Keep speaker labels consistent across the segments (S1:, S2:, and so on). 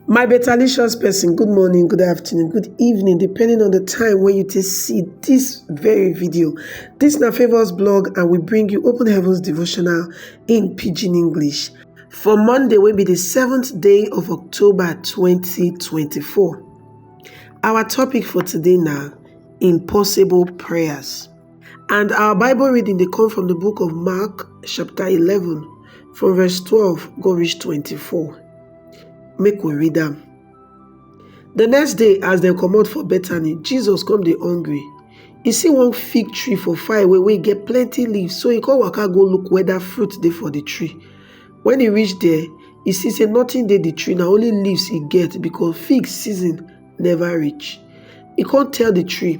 S1: My betalicious person, good morning, good afternoon, good evening, depending on the time when you take see this very video. This na Favours blog and we bring you Open Heavens Devotional in Pidgin English for Monday wey be the seventh day of October 2024. Our topic for today na impossible prayers. And our Bible reading dey come from the book of Mark, chapter 11, from verse 12 go reach 24. Make we read am. The next day, as dem comot for Bethany, Jesus come dey hungry. He see one fig tree for far away wey get plenty leaves, so he come waka go look whether fruit dey for the tree. When he reach there, he see say nothing dey the tree, na only leaves e get because fig season never reach. He come tell the tree,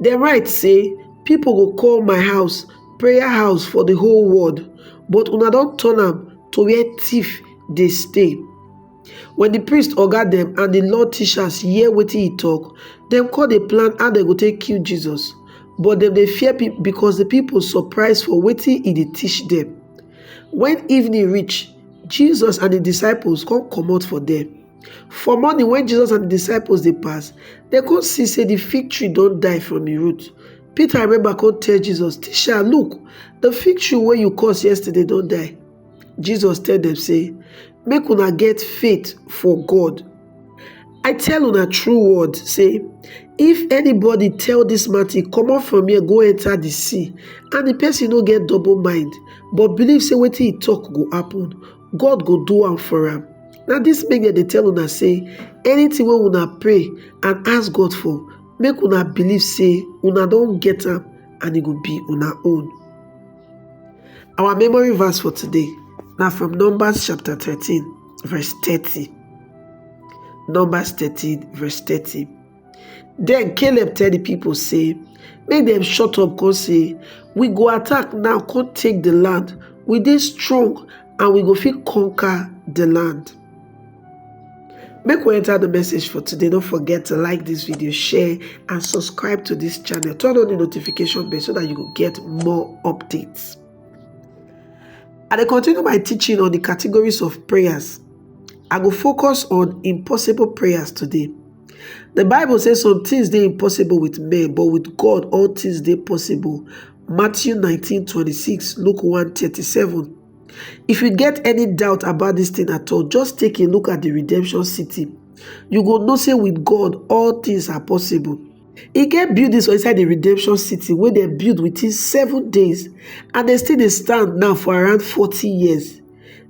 S1: dem write say pipo go call my house prayer house for di whole world but una don turn am to where tiff dey stay wen di priest oga dem and di law teachers hear wetin he tok dem con dey plan how dem go take kill jesus but dem dey fear pipo because di pipo surprise for wetin he dey teach dem wen evening reach jesus and his disciples con comot for there For morning when Jesus and the disciples they pass, they come see say the fig tree don't die from the root. Peter remember come tell Jesus, Teacher, look, the fig tree where you caused yesterday don't die. Jesus tell them say, Make una get faith for God. I tell una true word, say, if anybody tell this mountain, come up from here, go enter the sea, and the person no get double mind, but believe say wetin he talk go happen, god go do am for am na dis make dem dey tell una say anything wey una pray and ask god for make una believe say una don get am and e go be una own our memory verse for today na from numbers chapter thirteen verse thirty numbers thirteen verse thirty Den Caleb tell di pipo sey make dem shut up kon sey, We go attack now kon take di land, we dey strong and we go fit conquer di land. Make we enter the message for today. Don't forget to like this video, share and subscribe to this channel. Turn on the notification bell so that you will get more updates. And I continue my teaching on the categories of prayers. I will focus on impossible prayers today. The Bible says some things dey impossible with men, but with God all things dey possible. Matthew 19 26, Luke 1 37. If you get any doubt about this thing at all, just take a look at the redemption city. You go know say with God all things are possible. E get buildings for inside the redemption city wey dem build within seven days and dem still dey stand now for around 40 years.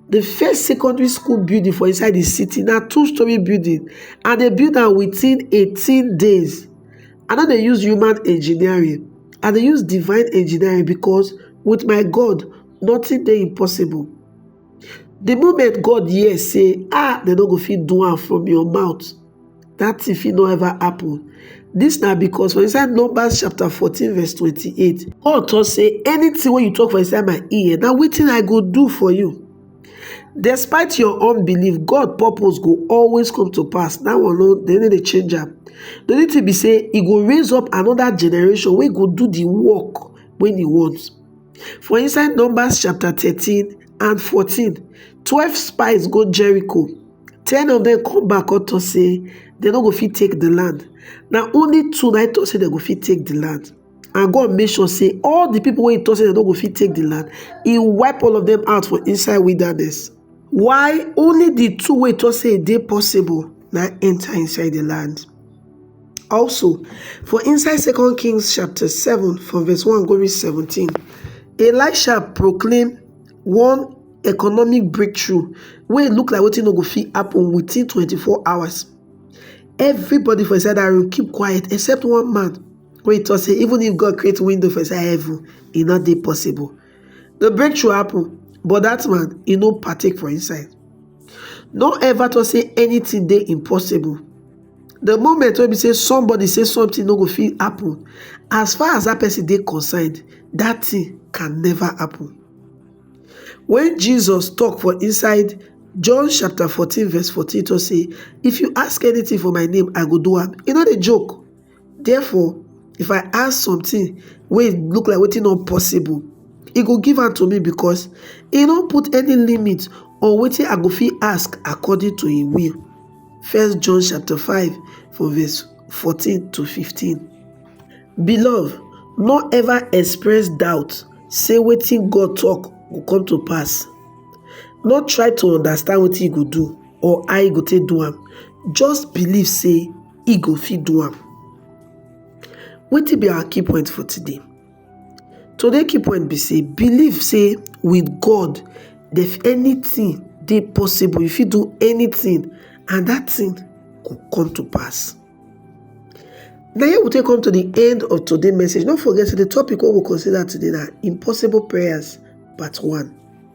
S1: The first secondary school building for inside the city na two story building and they build am within 18 days. I no dey use human engineering, I dey use divine engineering because with my God, nothing dey impossible. The moment God hear say, ah, they no go fit do am from your mouth. dat thing fit no ever happen. Dis na because for inside Numbers chapter 14 verse 28, God talk say anything wey you talk for inside my ear na wetin I go do for you. Despite your unbelief, God purpose go always come to pass. That one no they no dey change am. The only thing be say e go raise up another generation wey go do the work wey e want. For inside Numbers chapter 13 and 14, 12 spies go Jericho ten of dem come back come talk say dem no go fit take the land na only two na im talk say dem go fit take the land and god make sure say all the people wey he talk say dem no go fit take the land he wipe all of them out for inside wilderness why only the two wey talk say e dey possible na enter inside the land also for inside second kings chapter 7 from verse 1 go reach 17 elisha proclaim one economic breakthrough wey look like wetin no go fit happen within 24 hours. Everybody for inside that room keep quiet except one man wey talk say even if God create window for inside heaven, e no dey possible. The breakthrough happen but that man e no partake for inside. No ever talk say anything dey impossible. The moment wey be say somebody say something no go fit happen, as far as that person dey concerned, that thing can never happen. When Jesus talk for inside John chapter 14 verse 14 talk say, if you ask anything for my name, I go do am. E no dey joke. Therefore, if I ask something wey look like wetin no possible, e go give am to me because e no put any limit on wetin I go fit ask according to im will. First John chapter 5 from verse 14 to 15. Beloved, no ever express doubt say wetin God talk go come to pass. No try to understand wetin e go do or how e go take do am. Just believe say e go fit do am. Wetin be our key point for today? Today key point be say believe say with God if anything dey possible you fit do anything and that thing go come to pass. Na here we take come to the end of today message. No forget say the topic wey we consider today na impossible prayers part one.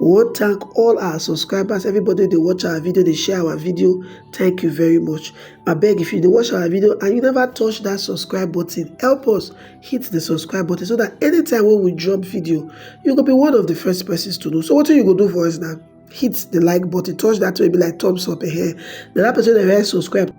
S1: We wan thank all our subscribers, everybody wey dey watch our video, dey share our video, thank you very much. Abeg if you dey watch our video and you never touch that subscribe button, help us hit the subscribe button so that anytime wey we drop video, you go be one of the first persons to know. So wetin you go do for us now? Hit the like button, touch that wey be like thumbs up, eh? Then that person wey never subscribe,